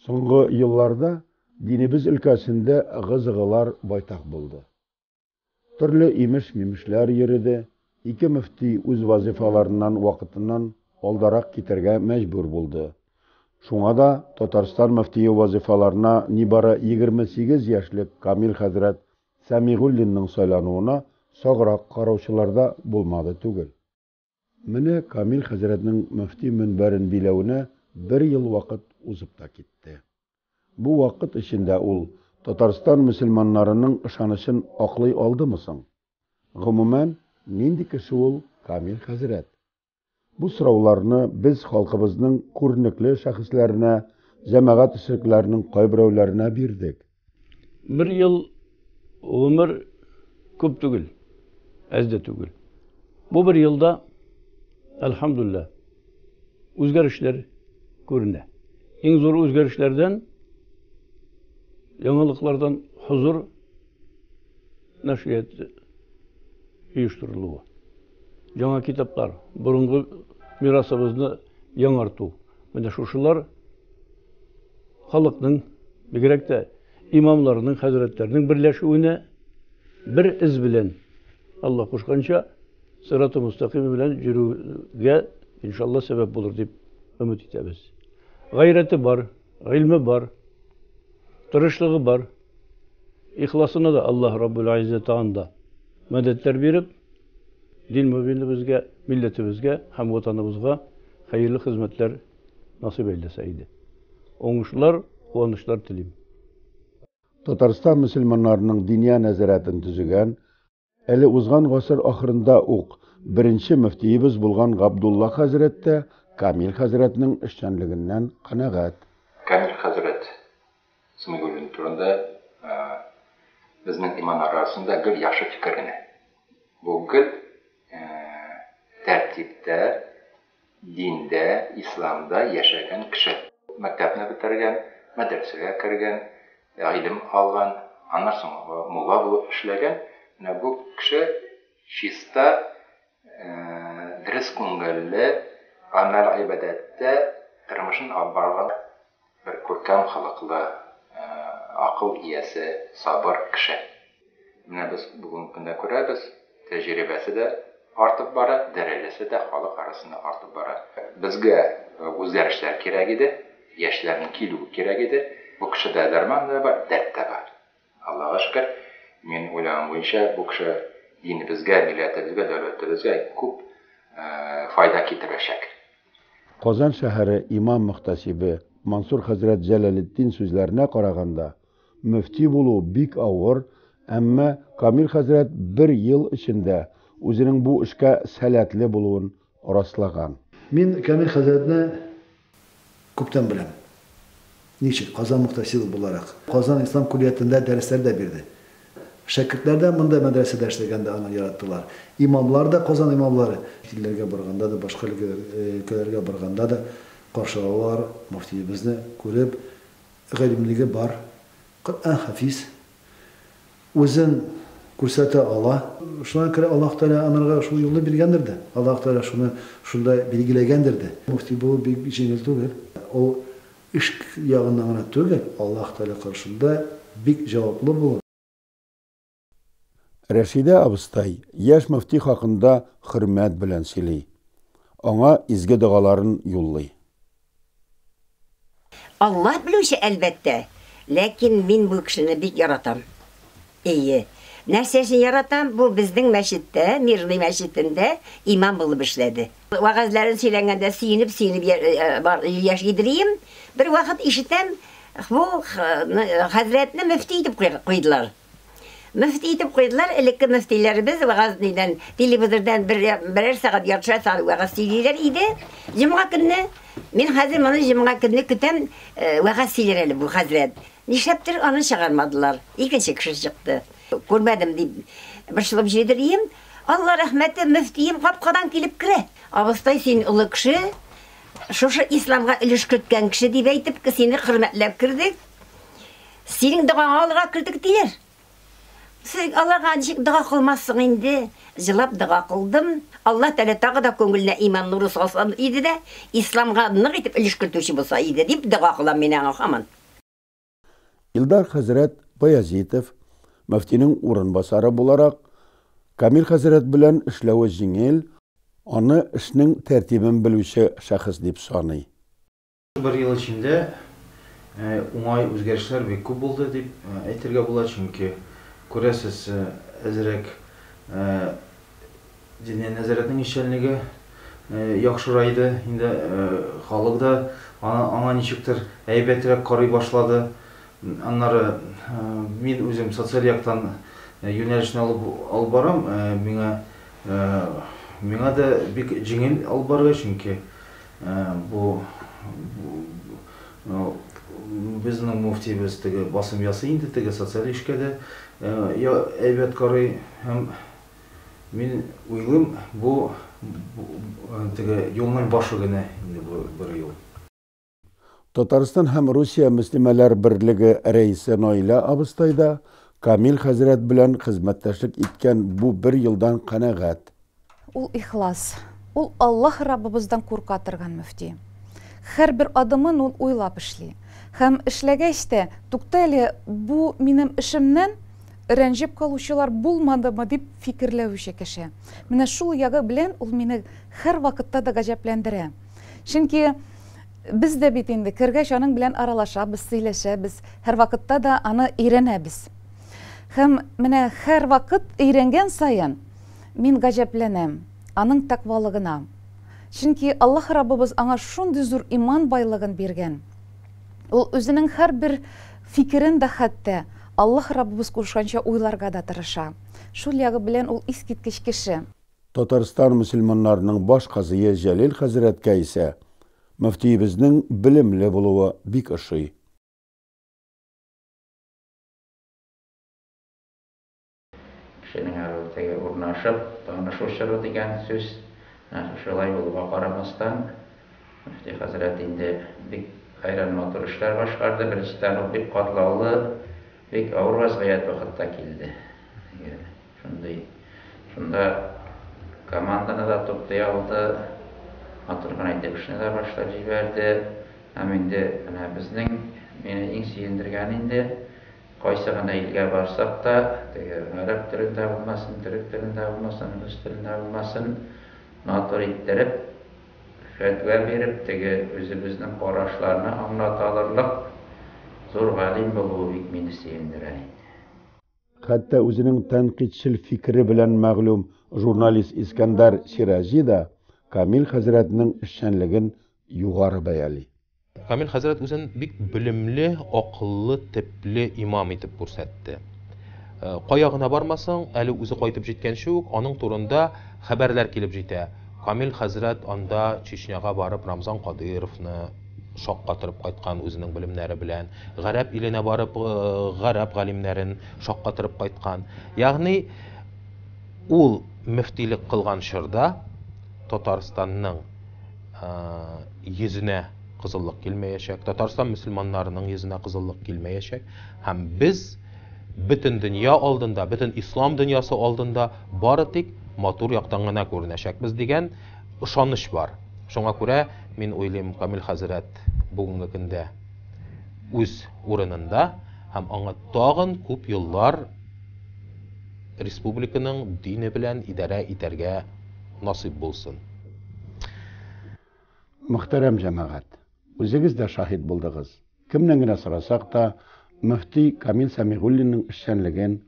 Соңгы елларда динебез өлкәсендә гызыгылар байтак булды. Төрле имеш-мимешләр йөрде, ике мөфти үз вазифаларыннан вакытыннан алдарак китәргә мәҗбүр булды. Шуңа да Татарстан мөфтие вазифаларына нибары 28 яшьлек Камил хәзрәт Сәмигуллинның сайлануына саграк караучылар да булмады түгел. Менә Камил хәзрәтнең мөфти мөнбәрен биләвенә бер ел вакыт узып та китте. Бу вакыт эчендә ул Татарстан мөселманнарының ышанычын аклый алдымы соң? Гомумән, нинди кеше ул Камил хәзрәт? Бу сорауларны без халкыбызның күренекле шәхесләренә, җәмәгать эшлекләренең кайберәүләренә бирдек. Бер ел гомер күп түгел, әз дә түгел. Бу бер елда, әлхәмдуллә, үзгәрешләр күренә. Иң зур үзгәрешләрдән, яңалыклардан хозур нәшрият оештырылуы. Яңа китаплар, борынгы мирасыбызны яңарту. Менә шушылар халыкның, бигрәк тә имамларның, хәзрәтләрнең берләшүенә бер эз белән Алла кушканча сыраты мустакыйм белән йөрүгә иншалла сәбәп булыр дип өмет итәбез. Гайрәте бар, гыйльме бар, тырышлыгы бар. Ихласына да Аллаһ Раббул Айзза тагын да мәдәтләр биреп, дин мөбинебезгә, милләтебезгә һәм ватаныбызга хәерле хезмәтләр насыйп әйләсә иде. Уңышлар, куанычлар телим. Татарстан мөселманнарының Диния нәзарәтен төзегән Әле узган гасыр ахырында ук беренче мөфтиебез булган Габдулла хәзрәт тә Камил хәзрәтнең эшчәнлегеннән канәгать. Камил хәзрәт Сәмигуллин турында безнең имам арасында гел яхшы фикер генә. Бу гел тәртиптә, Диндә, исламда яшәгән кеше. Мәктәпне бетергән, мәдрәсәгә кергән, гыйлем алган, аннан соң мулла булып эшләгән, менә бу кеше чиста, дөрес күңелле, гамәл-гыйбадәттә тормышын алып барган. Бер күркәм холыклы, акыл иясе, сабыр кеше. Менә без бүгенге көндә күрәбез, тәҗрибәсе дә артып бара, дәрәҗәсе дә халык арасында артып бара. Безгә үзгәрешләр кирәк иде, яшьләрнең килүе кирәк иде. Бу кешедә дәрман да бар, дәрт тә бар. Аллага шөкер, мин уйлаган буенча, бу кеше динебезгә, милләтебезгә, дәүләтебезгә күп файда китерәчәк. Казан шәһәре имам-мөхтәсибе Мансур хәзрәт Җәләлетдин сүзләренә караганда, мөфти булу бик авыр, әмма Камил хәзрәт бер ел эчендә үзенең бу эшкә сәләтле булуын раслаган. Мин Камил хәзрәтне күптән беләм. Ничек? Казан мөхтәсибы буларак. Казан ислам куллиятендә дәресләр дә бирде. Шәкертләр дә монда мәдрәсәдә эшләгәндә аны яраттылар. Имамлар да, Казан имамлары. Илләргә барганда да, башка өлкәләргә барганда да каршы алалар, мөфтиебезне күреп, галимлеге бар, Коръән хафиз. үзен күрсәтә ала. Шуңа күрә Аллаһ Тәгалә анарга шул юлны биргәндер дә. Аллаһ Тәгалә шуны шунда билгеләгәндер дә. Мөфти булу бик җиңел түгел. Ул эш ягыннан гына түгел, Аллаһ Тәгалә каршында бик җаваплы булу. Рәшидә абыстай яшь мөфти хакында хөрмәт белән сөйли, аңа изге догаларын юллый. Аллаһ белүче, әлбәттә. Ләкин мин бу кешене бик яратам. Эйе. Нәрсә өчен яратам? Бу безнең мәчеттә, Мирный мәчетендә имам булып эшләде. Вәгазьләрен сөйләнгәндә сөенеп-сөенеп яши идрием. Бервакыт ишетәм, бу хәзрәтне мөфти итеп куйдылар. Мөфти итеп куйдылар, элекке мөфтиләребез вәгазь нидән, телевизордан бер, берәр сәгать яртыша сәгать вәгазь сөйлиләр иде. Җомга көнне мин хәзер моны җомга көнне көтәм, э, вәгазь сөйләр әле бу хәзрәт. Нишләптер аны чыгармадылар. Икенче кеше чыкты. Күрмәдем дип борчылып җөдерим. Алла рәхмәте, мөфтием капкадан килеп керә. Абыстай, син олы кеше, шушы исламга өлеш керткән кеше дип әйтеп, сине хөрмәтләп кердек. Синең догаңа алырга кердек, диләр. Сез Аллага ничек дога кылмассың инде? Җылап дога кылдым. Алла Тәгалә тагы да күңеленә иман нуры салса иде дә, исламга нык итеп өлеш кертүче булса иде, дип дога кылам мин аңа һаман. Илдар хәзрәт Баязитов, мөфтинең урынбасары буларак, Камил хәзрәт белән эшләве җиңел, аны эшнең тәртибен белүче шәхес дип саный. Бер ел эчендә уңай үзгәрешләр бик күп булды дип әйтергә була, чөнки, күрәсез, әзрәк Диния нәзарәтнең эшчәнлеге яхшырайды, инде халык да аңа ничектер әйбәтрәк карый башлады. Аннары мин үзем социаль яктан юнәлешне алып барам, миңа миңа да бик җиңел алып барырга, чөнки Бу безнең муфтиебез теге басым ясый инде, теге социаль эшкә дә әйбәт карый һәм мин уйлыйм, бу теге юлның башы генә инде бу бер юл. Татарстан һәм Русия мөслимәләр берлеге рәисе Наилә абыстай да Камил хәзрәт белән хезмәттәшлек иткән бу бер елдан канәгать. Ул ихлас. Ул Аллаһ Раббыбыздан курка торган мөфти. Һәрбер адымын ул уйлап эшли. Һәм эшләгәч тә, тукта әле, бу минем эшемнән рәнҗеп калучылар булмадымы дип фикерләүче кеше. Менә шул ягы белән ул мине һәрвакытта да гаҗәпләндерә. Чөнки без дә бит инде кергәч аның белән аралашабыз, сөйләшәбез, һәрвакытта да аны өйрәнәбез. Һәм менә һәрвакыт өйрәнгән саен, Мин гаҗәпләнәм аның тәкъвалыгына, чөнки Аллаһ Раббыбыз аңа шундый зур иман байлыгын биргән, ул үзенең һәрбер фикерен дә хәтта Аллаһ Раббыбыз кушканча уйларга да тырыша. Шул ягы белән ул искиткеч кеше. Татарстан мөселманнарының баш казые Җәлил хәзрәткә исә мөфтиебезнең белемле булуы бик ошый. Кешенең аруы теге урнашып, танышу чоры дигән сүз. Шулай булуга карамастан, мөфти хәзрәт инде бик хәйран матур эшләр башкарды. Беренчедән, ул бик катлаулы, бик авыр вазгыять вакытта килде. Шундый, шунда команданы да туплый алды, матур гына итеп эшне дә башлап җибәрде. Һәм инде менә безнең, мине иң сөендергәне инде, Кайсы гына илгә барсак та, теге гарәп телендә булмасын, төрек телендә булмасын, рус телендә булмасын, матур иттереп, фәтва биреп, теге үзебезнең карашларны аңлата алырлык зур галим булуы бик мине сөендерә иде. Хәтта үзенең тәнкыйтьчел фикере белән мәгълүм журналист Искәндәр Сираҗи да Камил хәзрәтнең эшчәнлеген югары бәяли. Камил хәзрәт үзен бик белемле, акыллы, тепле имам итеп күрсәтте. Э, кая гына бармасаң, әле үзе кайтып җиткәнче үк аның турында хәбәрләр килеп җитә. Камил хәзрәт анда Чечняга барып Рамзан Кадыровны шаккатырып кайткан үзенең белемнәре белән, гарәп иленә барып э, гарәп галимнәрен шаккатырып кайткан. Ягъни ул мөфтилек кылган чорда Татарстанның йөзенә кызыллык килмәячәк, Татарстан мөселманнарының йөзенә кызыллык килмәячәк һәм без бөтен дөнья алдында, бөтен ислам дөньясы алдында бары тик матур яктан гына күренәчәкбез дигән ышаныч бар. Шуңа күрә мин уйлыйм, Камил хәзрәт бүгенге көндә үз урынында һәм аңа тагын күп еллар республиканың дине белән идарә итәргә насыйп булсын. Мөхтәрәм җәмәгать, үзегез дә шаһит булдыгыз. Кемнән генә сорасак та, мөфти Камил Сәмигуллинның эшчәнлеген,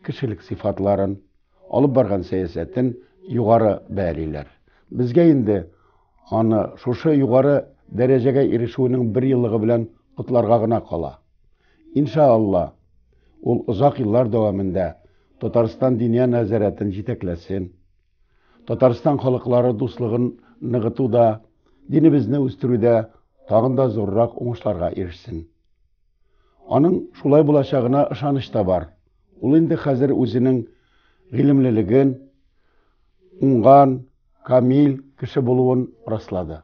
кешелек сыйфатларын, алып барган сәясәтен югары бәялиләр. Безгә инде аны шушы югары дәрәҗәгә ирешүенең бер еллыгы белән котларга гына кала. Иншаалла, ул озак еллар дәвамында Татарстан Диния нәзарәтен җитәкләсен, Татарстан халыклары дуслыгын ныгытуда, динебезне үстерүдә тагын да зуррак уңышларга ирешсен. Аның шулай булачагына ышаныч та бар. Ул инде хәзер үзенең гыйлемлелеген, уңган, камил кеше булуын раслады.